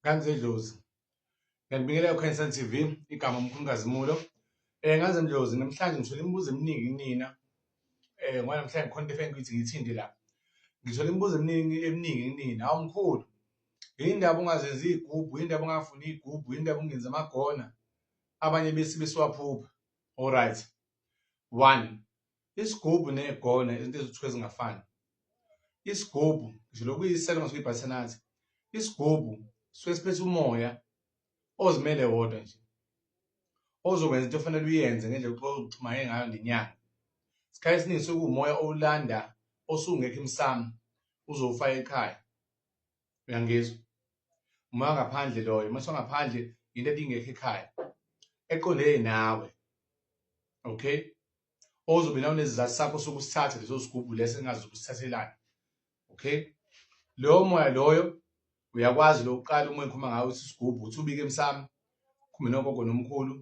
Ganze Dlozi. Ngiyanibingelela uKhansel TV, igama uMkhulukazi Mulo. Eh ngaze Mdlozi namhlanje ngithole imibuzo eminingi kunina. Eh ngoba namhlanje ngikhona into efengi ukuthi ngithinde la. Ngithole imibuzo eminingi eminingi kunina. Hawu mkhulu. Yindaba ungazenzi igubhu, yindaba ungafuni igubhu, yindaba ungenza amagona. Abanye besi besiwaphupha. All right. 1. isigubhu negona izinto ezithiwa ezingafani isigubhu ngisho lokuyiselo ngasuke ibhathanathi isigubhu suke siphethe umoya ozimele wodwa nje ozokwenza into ofanele uyenze ngendlela uxhumane ngayo ngenyanga isikhathi esiningi suke kuwumoya owulanda osungekho emsamo uzowufaka ekhaya uyangizwa umoya ngaphandle loyo uma songaphandle into ebingekho ekhaya eqondene nawe okay ozobe nawo nezizathu sakho sokusithatha leso sigubhu leso engazi ukusithathelani okay lowo moya loyo uyakwazi lokuqala uma ngikhuluma ngawo isigubhu uthi ubike emsamo khumbe nogogo nomkhulu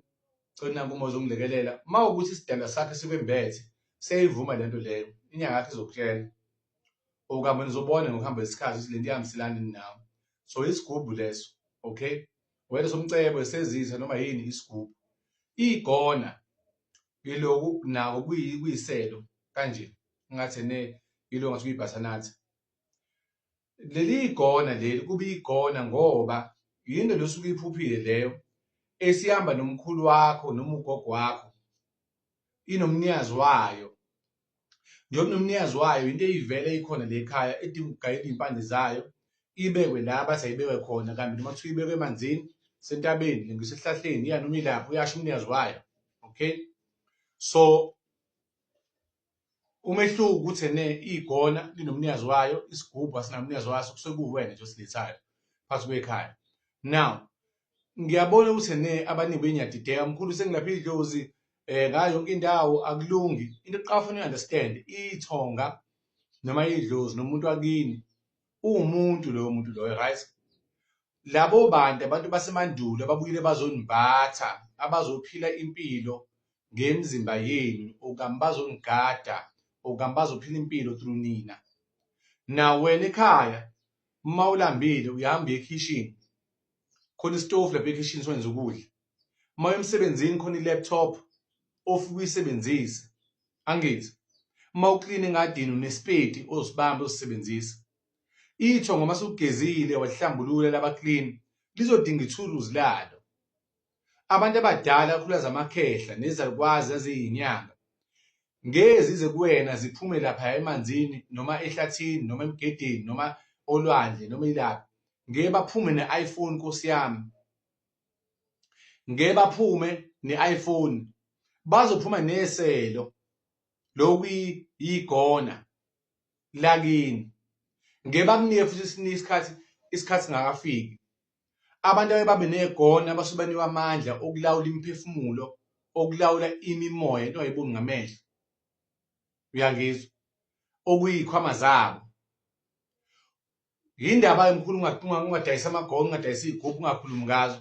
cela kumo zongilekelela uma ukuthi isidalwa sakhe sikwembethe seyivuma lento leyo inyanga yakhe izokutshela okama nizobona ngokuhamba isikhathi ukuthi lento ihambiselani nawe so isigubhu leso okay wena somcebo esezitha noma yini isigubhu igona iloku nako kuyiselo kanje ngathi ne ilo ngathi kuyibhathanathi leli igona leli kube igona ngoba yinto losuke iphuphile leyo esihamba nomkhulu wakho noma ugogo wakho inomnyazi wayo njengoba nomnikazi wayo into eyivele ikhona le khaya edinga ukugayela iy'mpande zayo ibekwe la bathi ayibekwe khona kanti noma kuthiwa ibekwe emanzini sentabeni ngisesihlahleni iya noma ilapho uyasho umnikazi wayo okay so umehluko ukuthi ene igona linomnikazi wayo isigubhu asinamnikazi waso kusekuwena nje osilethayo phakathi kwekhaya now ngiyabona ukuthi ene abaningi benyadideka mkhulu sengilapha idlozi eh ngayo yonke indawo akulungi into eqafuna understand ithonga noma idlozi nomuntu wakini uwumuntu loyo muntu loyo right labo bantu abantu basemandulo ababuyile bazonimbatha abazophila impilo ngemizimba yenu okanye bazonigada okanye bazophila impilo through nina na wena ekhaya uma ulambile uyahamba ekhishini khona isitofu lapha ekhishini sokwenza ukudla uma emsebenzini khona i-laptop ofika uyisebenzise angithi uma uklina engadini unesipedi ozibamba uzisebenzisa itho ngoma sugezile wahlambulula laba clean lizodinga ithuluzi lalo Abantu abadala kakhulukazi amakhehla nezalukwazi eziyinyanga ngeke zize kuwena ziphume lapha emanzini noma ehlathini noma emgedeni noma olwandle noma ilaphi ngeke baphume ne-iphone nkosi yami ngeke baphume ne-iphone bazophuma neselo lokuyigona lakini ngeke bakunike futhi isikhathi isikhathi ngakafiki Abantu ababe negona abasuke banikwa amandla okulawula imiphefumulo, okulawula imimoya into ayiboni ngamehlo. Uyangizwa? Okuyikhwama zabo. Yindaba enkulu ungadayisa amagona, ungadayisa iy'gubhu, ungakhulumi ngazo.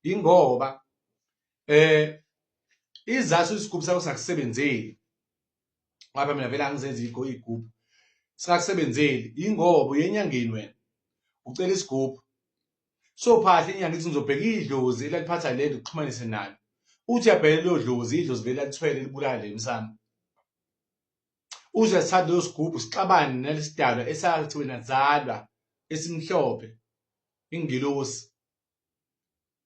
Yingoba eh izathu isigubhu sakho sakusebenzeli ngoba mina vele angizenzi ikho igubhu singakusebenzeli yingoba uyenyangeni wena ucela isigubhu so phahle inyanga ithi ngizobheka idlozi elaliphatha lento kuxhumanise nalo uthi uyabheka leyo dlozi idlozi vele alithwele libulale emsamo uze asithathe leyo sigubhu sixabane nalesidalwa esathi wena zalwa esimhlophe ingilosi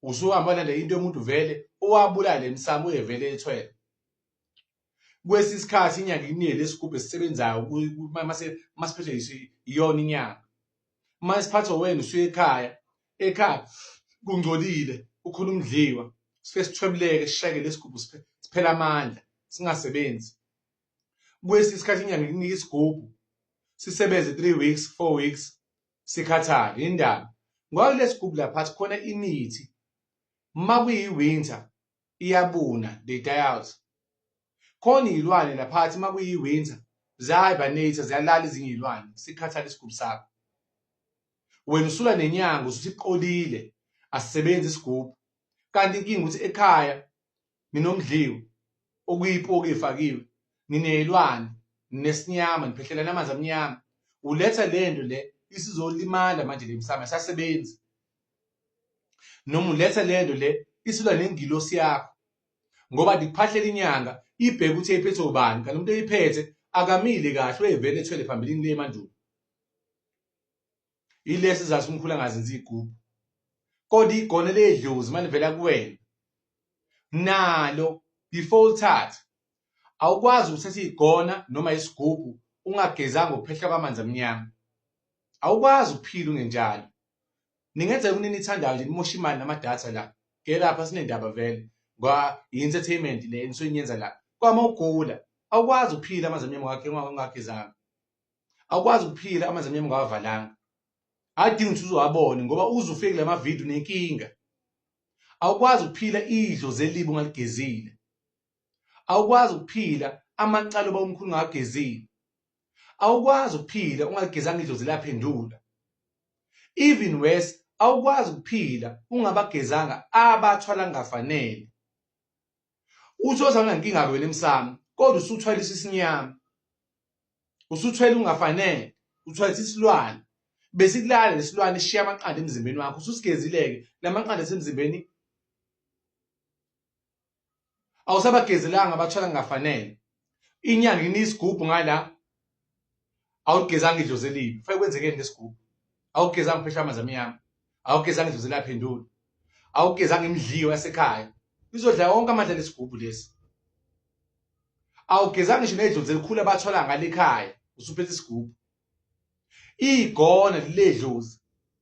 usuhamba lale into yomuntu vele owabulala emsamo uyevele ethwele kwesi sikhathi inyanga inele isigubhu esisebenzayo masiphethe iyona inyanga uma isiphatho wena usuye ekhaya ekhaya kungcolile ukhona umdliwa sifike sithwebuleke sishayeke lesigubhu siphela amandla singasebenzi kwesi isikhathi inyanga ikunike isigubhu sisebenze 3 weeks 4 weeks sikhathale indaba ngoba lesigubhu laphathi khona imithi uma kuyi-winter iyabuna the dials khona iy'lwane laphathi uma kuyi-winter ziyahibernator ziyalala ezinye iy'lwane sikhathale isigubhu sakho wena usula nenyanga usuthi iqolile asisebenzi isigubhu kanti inkinga ukuthi ekhaya nginomdliwu okuyipoki efakiwe ngineyilwane nginesinyama ngiphehlelane amanzi amnyama uletha le nto le isizolimala manje le msamo asasebenzi noma uletha le nto le isilwa nengilosi yakho ngoba ndikuphahlela inyanga ibheke ukuthi eyiphethwe ubani kanti umuntu eyiphethe akamile kahle uyevele ethwele phambilini le mandulo ilesi sizathu umkhulu angazenzi igubhu kodwa igone ledlozi manje vela kuwena nalo before ulithathe awukwazi ukuthatha igona noma isigubhu ungagezanga ukuphehla kwamanzi amnyama awukwazi ukuphila ungenjalo ningenza yonke into enithandayo nje nimosha imali namadatha la ngelapha sinendaba vele ngoba yi-entertainment le enisuke niyenza la kwama ugula awukwazi ukuphila amanzi amnyama wakhe ungagezanga awukwazi ukuphila amanzi amnyama ungawavalanga adingi ukuthi uzowabone ngoba uze ufike kula mavidiyo nenkinga awukwazi ukuphila idlo zelibi ungaligezile awukwazi ukuphila amacala oba umkhulu ungagezile awukwazi ukuphila ungagezanga idlozi laphendula even worse awukwazi ukuphila ungabagezanga abathwala ngafanele uthi ozana nkinga wena emsamo kodwa usuthwele isisinyama usuthwele ungafanele uthwele isilwane besikulala lesilwane sishiya amaqanda emzimbeni wakho ususigezileke lamaqanda esemzimbeni awusabagezelanga abathwala ngafanele inyanga inisigugu ngala awugezanga idlozi elibi fake kwenzekeni ngesigubhu awugezanga phesha amanzi amnyama awugezanga idlozi elaphendula awugezanga imidliyo yasekhaya izodla wonke amandla lesigubhu lesi awugezanga ngisho nedlozi elikhulu abathola ngale ekhaya usuphethe isigubhu igona ledlozi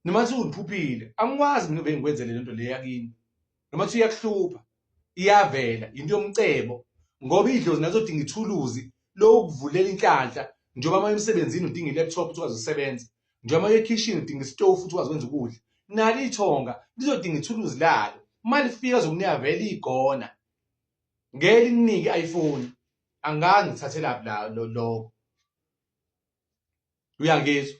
noma sewuliphuphile angikwazi mina bengikwenzele lento le yakini noma kuthiwa iyakuhlupha iyavela into yomcebo ngoba idlozi nazodinga ithuluzi lokuvulela inhlanhla njengoba uma emsebenzini udinga i-laptop ukuthi ukwazi ukusebenza njengoba uye ekhishini udinga isitofu ukuthi ukwazi ukwenza ukudla nalo ithonga lizodinga ithuluzi lalo uma lifika zokunika vele igona ngeke likunike i-iphone angazi ngithathelaphi loko uyangizwa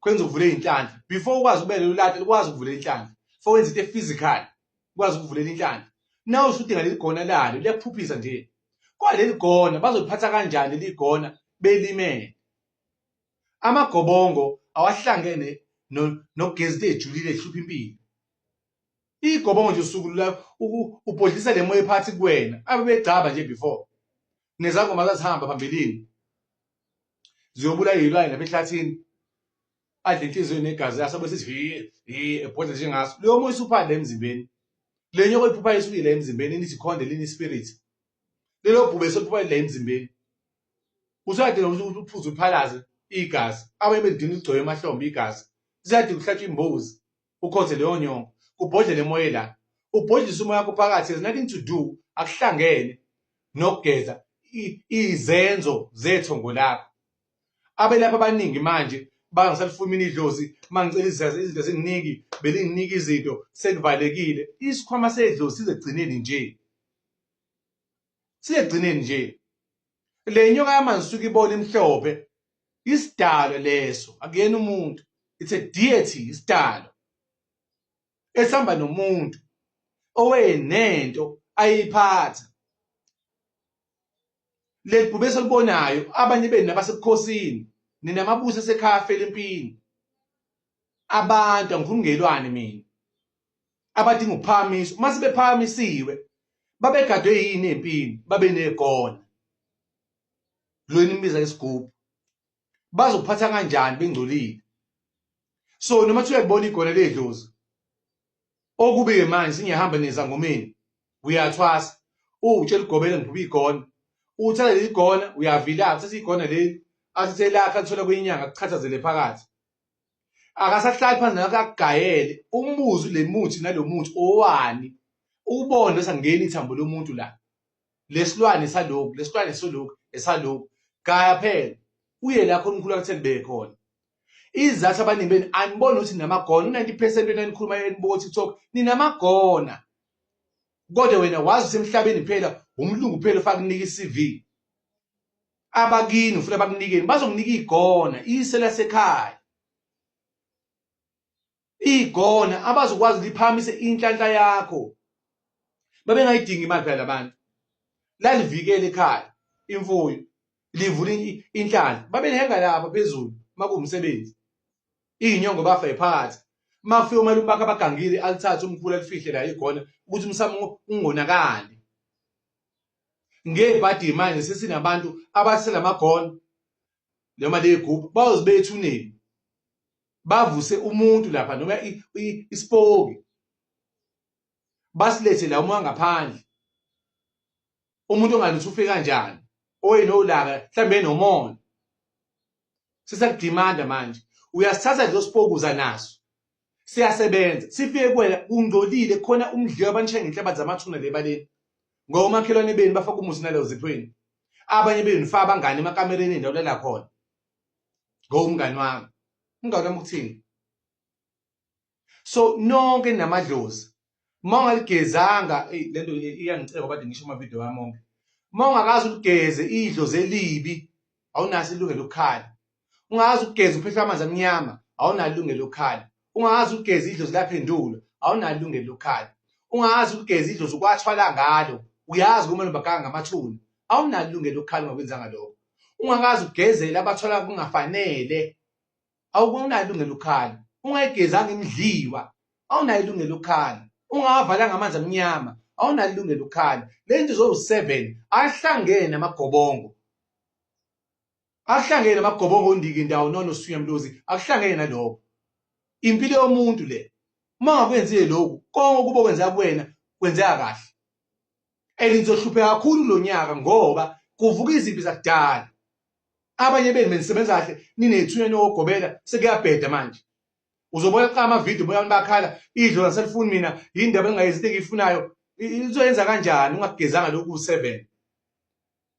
kwenza uvule inhlanhla before ukwazi ubele ulate ukwazi ukuvula inhlanhla for wenza into physical ukwazi ukuvulela inhlanhla now ushuthi ngaleli gona lalo liyakuphuphisa nje kwaleli gona bazoliphatha kanjani leli gona belimele amagobongo awahlangene nogezi no ejulile ehlupha impilo igobongo nje usuku la ubhodlisa le moya ephathi kuwena abebegcaba nje before nezangoma zazihamba phambilini ziyobula izilwane lapha ehlathini adle inhliziyo negazi yaso bese sithi ebhodla njengaso leyo moya usuphande emzimbeni le nyoko iphupha isukile emzimbeni nithi khonde lini spirit lelo bhube sophupha la emzimbeni usuyadinga ukuthi uphuze uphalaze igazi abayemedini ugcoye emahlombe igazi ziyadinga ukuhlatshwa imbuzi ukhonze leyo nyongo kubhodlela emoye la ubhodlisa umoya wakho phakathi has nothing to do akuhlangene nokugeza izenzo zethongo lakho abelapha abaningi manje bangisalifumini idlozi mangicela izazi izinto ezinginiki belinginiki izinto sekuvalekile isikhwama sedlozi sizegcineni nje siyegcineni nje le nyoka yamanzi suke ibona imhlophe isidalo leso akuyena umuntu it's a deity isidalo esihamba nomuntu owenento ayiphatha legqubu esolibonayo abanye benu nabasebukhosini nina mabusa esekhaya afela empini abantu angikhulumi ngelwane mina abadinga ukuphakamiswa uma sebephakamisiwe babegadwe yini empini babe negona lo enimbiza isigubhu bazophatha kanjani bengcolile so noma kuthiwa ibona igona ledlozi okube manje singehamba nezangomeni uyathwasa utshela ugobela ngiphuba igona uthatha leli gona uyavila uthatha igona leli athathe lakhe alithola kwinyanga kuchathazele phakathi akasahlali phansi nawe akagayele umbuzo le muthi nalo muthi owani ubone bese ngena ithambo lomuntu la lesilwane saloku lesilwane soloku esaloku gaya phela uye la khona umkhulu akutheni bekhona izathu abaningi beni aniboni ukuthi ninamagona u-90 percent wena nikhuluma enibuko tiktok ninamagona kodwa wena wazi ukuthi emhlabeni phela umlungu phela ufake unika i-cv abakini ufuna bakunikeni bazokunika igona ise lasekhaya igona abazokwazi liphamise inhlanhla yakho babengayidingi imali phela labantu lalivikele ekhaya imfuyo livula inhlanhla babenhenga lapha phezulu makuwumsebenzi inyongo bafa ephakathi mafika uma lubaka abagangile alithathe umkhulu alifihle la igona ukuthi umsamo ungonakali ngebhadi manje sesinabantu abasela magona noma leyigubhu bayoze bethuneni bavuse umuntu lapha noma isipoki basilethe la uma ngaphandle umuntu ongalutho ufika kanjani oyena olaka mhlambe enomona sisakudimanda manje uyasithatha nje osipokuza naso siyasebenza sifike kuwena kungcolile khona umdliwa abanishaye ngenhlabathi zamathuna le baleni ngoba omakhelwane benu bafaka umusi naleyo ziphweni abanye benu fa abangane emakamereni endawo lala khona ngowumngani wami umngani wami ukuthini so nonke namadlozi uma ungaligezanga eyi lento iyangiceba kade ngisho amavidiyo wami onke uma ungakazi uligeze idlozi elibi awunaso ilungelo lokukhala ungazi ukugeza uphehlwa amanzi amnyama awunalo ilungelo lokukhala ungazi ukugeza idlozi laphendulo awunalo ilungelo lokukhala ungazi ukugeza idlozi ukwathwala ngalo uyazi kumele ubaganga ngamathuna awunalo ilungelo lokukhala ungakwenzanga lokho ungakazi ugezela abathwala kungafanele awukunalo ilungelo ukhala ungayigezanga imidliwa awunayo ilungelo ukhala ungawavalanga amanzi amnyama awunayo ilungelo ukhala le nto zowu-seven ahlangene amagobongo akuhlangene amagobongo ondiki ndawo nona usuya mlozi akuhlangene nalokho impilo yomuntu le uma ngakwenzile lokhu konke ukuba kwenzeka kuwena kwenzeka kahle and nizohlupheka kakhulu lo nyaka ngoba kuvuka izimpi zakudala abanye benu benisebenza kahle ninethunya nokugobela sekuyabheda manje uzobona xa amavidiyo boyani bakhala idlo laselifuni mina yindaba engingayenzi into engiyifunayo izoyenza kanjani ungakugezanga lokhu seven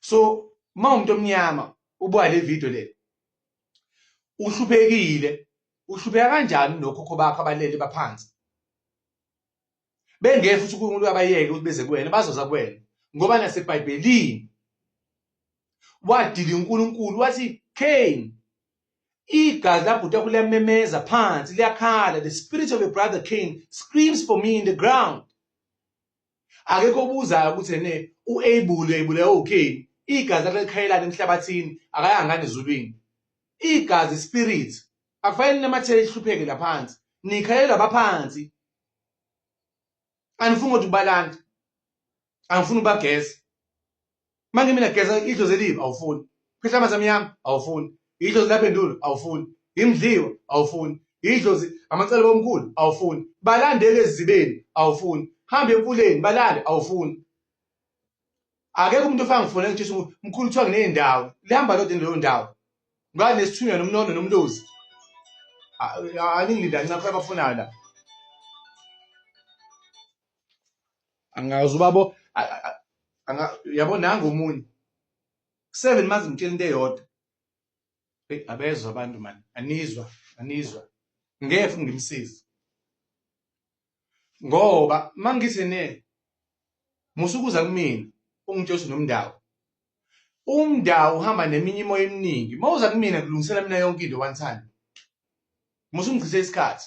so uma umuntu omnyama ubuka le video le uhluphekile uhlupheka kanjani nokhokho bakho abalele baphansi bengeke futhi uNkulunkulu abayeke ukuthi beze kuwena bazoza kuwena ngoba nasebhayibhelini wadila uNkulunkulu wathi Cain igazi labhuta kuliyamemeza phansi liyakhala the spirit of your brother Cain screams for me in the ground akekho obuzayo ukuthi ene u-abule abule okay igazi lakhe likhayelana emhlabathini akayangani ezulwini igazi spirit akufanele ninamathele ihlupheke laphansi nikhayelwa baphansi anifuni ukuthi ubalanda angifuni ubageza manje mina geza idlozi elibi awufuni phehla amanzi amnyama awufuni idlozi labendulo awufuni imdliwa awufuni idlozi amacele bomkhulu awufuni balandele ezibeni awufuni hambe emfuleni balale awufuni akekho umuntu ofana ngifuna ngitshisa umkhulu kuthiwa nginey'ndawo lihamba lodwa leyo ndawo ngani nesithunywa nomnono nomlozi aningilindani ncapha abafunayo la angazi ubabo yabo nangu omunye seven mazi ngitshela into eyodwa hey abezwa abantu mani anizwa anizwa ngeke ngimsize ngoba mangithi ne musukuza kumina ungitshela nomndawo umndawo uhamba neminye imoya eminingi mawuza kumina kulungisela mina yonke into one time musu ngichithe isikhathi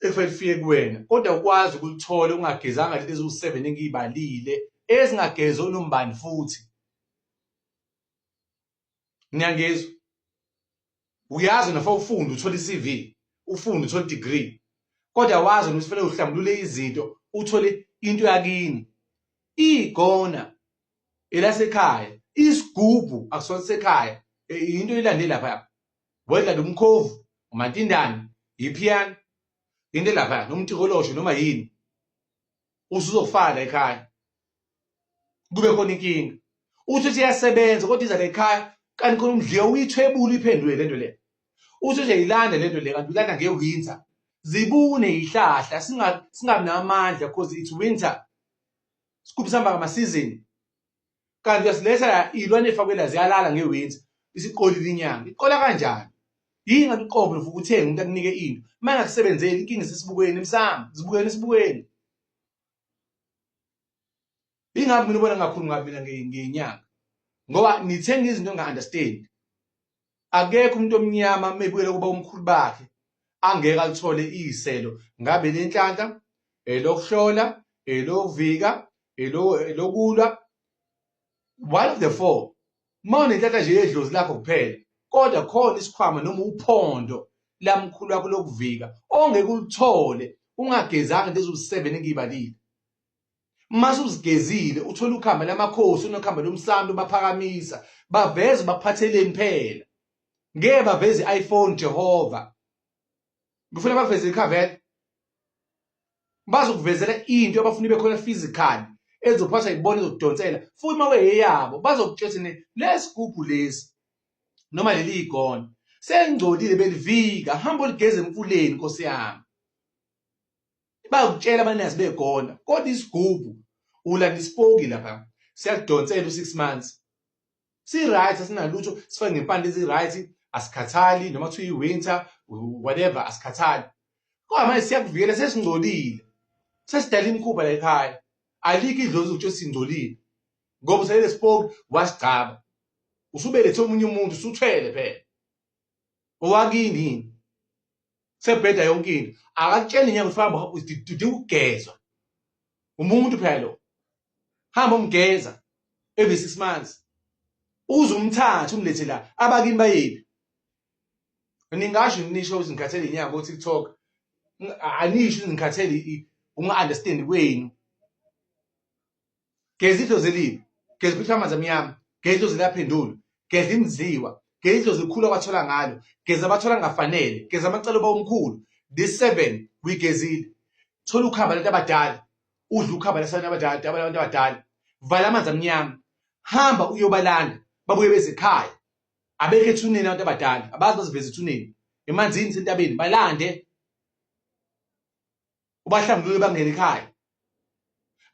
ekufanele lifike kuwena kodwa ukwazi ukulithola ungagezanga lento eziwu-seven engiyibalile ezingagezi onombani futhi niyangizwa uyazi nafa ufunde uthole i-cv ufunde uthole i-degree kodwa wazi ukuthi fanele uhlambulule izinto uthole into yakini igona elasekhaya isigubhu akusona sekhaya into ilande lapha wedla lomkhovu umatindane yiphiyana into lapha noma utikolosho noma yini usuzofala ekhaya kube khona inkinga uthi uthi iyasebenza kodwa iza lekhaya kanti khona umdliwa uyithwebula iphendule lento le uthi nje yilanda lento le kanti ulanda ngewinter zibune yihlahla singabi namandla because it's winter sikhuphisamba ngamasizini kanti uyasiletha la iy'lwane efakwe la ziyalala ngewenzi isiqolile inyanga iqola kanjani yini ngabe iqobo lovuka uthenge umuntu akunike into uma engakusebenzeli inkinga isesibukweni emsamo zibukeni esibukweni yingabe mina ubona ngakhulumi ngabi mina ngenyanga ngoba nithenga izinto enga-understand akekho umuntu omnyama mebuyela kuba umkhulu bakhe angeke alithole iyiselo ngabe lenhlanhla elokuhlola elokuvika elokulwa one of the four uma unenhlanhla nje yedlozi lakho kuphela kodwa khona isikhwama noma uphondo lamkhulu wakho lokuvika ongeke ulithole ungagezanga lezo seven engiyibalile mase uzigezile uthola ukhamba lamakhosi unokhamba lomsami ubaphakamisa baveze baphatheleni phela ngeke baveze i-iPhone Jehova ngifuna baveze iCavel bazokuvezela into abafuna ibe khona physical ezophatha ibona ezokudonsela futhi uma weyeyabo bazokutshela ne lesigubhu lesi noma leli igona sengcolile belivika hamba ligeze emfuleni nkosi yami Bayakutshela abanazi begona kodwa isigubu ulanda isipoki lapha siyakudonsela u6 months. Si right asinalutho sifake ngempande ezi right asikhathali noma kuthiwa iwinter whatever asikhathali. Kodwa manje siyakuvikela sesingcolile. Sesidala imikhuba la ekhaya. Alikho idlozi ukuthi singcolile. Ngoba uselele sipoki wasigcaba. Usubelethe omunye umuntu usuthwele phela. Owakini yini? sebheda yonke into akakutsheli nyanga ukuthi hamba udinga ukugezwa umuntu phela lo hamba umgeza every 6 months uze umthathe umlethe la abakini bayephi ningasho nisho ukuthi ngikhathele inyanga ko TikTok anisho ukuthi ngikhathele unga understand kwenu geza idlozi elibi geza uphitha amanzi amnyama geza idlozi eliyaphendula geza imziwa geza idlozi elikhulu abathola ngalo geza abathola ngafanele geza amacala uba omkhulu this seven kuyigezile thola ukhamba labantu abadala udla ukhamba labantu abadala abantu abadala vala amanzi amnyama hamba uyobalanda babuye bezikhaya abekho ethuneni abantu abadala abazi baziveza ethuneni emanzini sentabeni balande ubahlambulule bangene ekhaya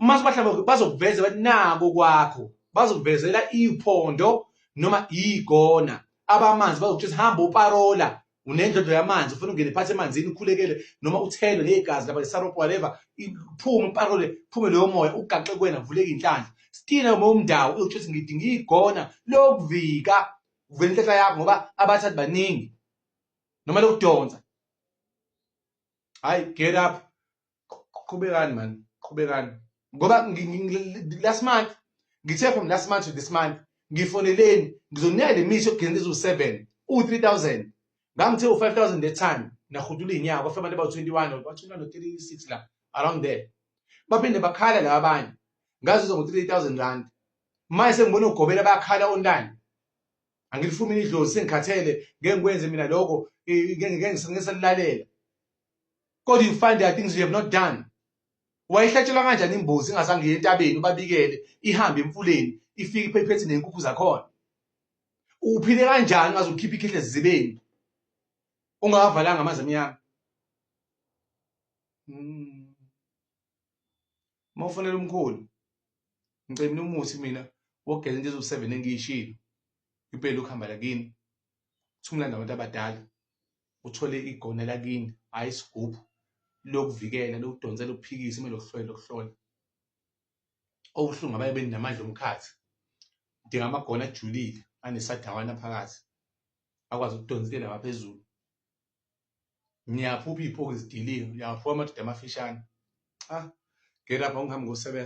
uma sibahlambuluke bazokuveza bathi nako kwakho bazokuvezela iphondo noma igona abamanzi bazokuthi hamba uparola unendlondlo yamanzi ufuna ungene phansi emanzini ukhulekele noma uthelwe legazi laba isaropo whatever iphume uparole phume leyo moya ugaxe kuwena vuleke inhlanhla stina uma umndawo uyokuthi ngidinga igona lokuvika uvela inhlanhla yakho ngoba abathathi baningi noma lokudonsa hayi get up qhubekani man qhubekani ngoba last month ngithe from last month to this month ngifoneleni ngizoniya le mithi yokugcina eziwu-7 u-3000 ngangithe u-5000 that time nahudula iy'nyawo kwafika abantu abawu-21 ba-21 no-36 la around there baphinde bakhala laba abanye ngazuza ngo-3000 rand manje sengibona ugobela bayakhala online angilifuni mina idlozi sengikhathele ngeke ngikwenze mina lokho ngeke ngiselilalela kodwa you find the things you have not done wayehlatshelwa kanjani imbuzi ingazange iye entabeni ubabikele ihambe emfuleni ifike iphephethe nenkukhu zakhona uphile kanjani ungaze ukhiphe ikhehle zizibeni ungawavalanga amanzi amnyama hmm. uma ufonela umkhulu ngicela umuthi mina wogeza into ezoseven engiyishilo impela ukuhamba lakini thumlanda abantu abadala uthole igone lakini hhayi isigubhu lokuvikela lokudonsela ukuphikisa uma lokuhlola lokuhlola okuhlungu abaye beninamandla omkhathi udinga amagona ajulile anesadawana phakathi akwazi ukudonsela ngaphezulu ngiyaphupha iy'phoki zidilile ngiyaphupha amadoda amafishane cha ngelapha ngihambe ngosebenza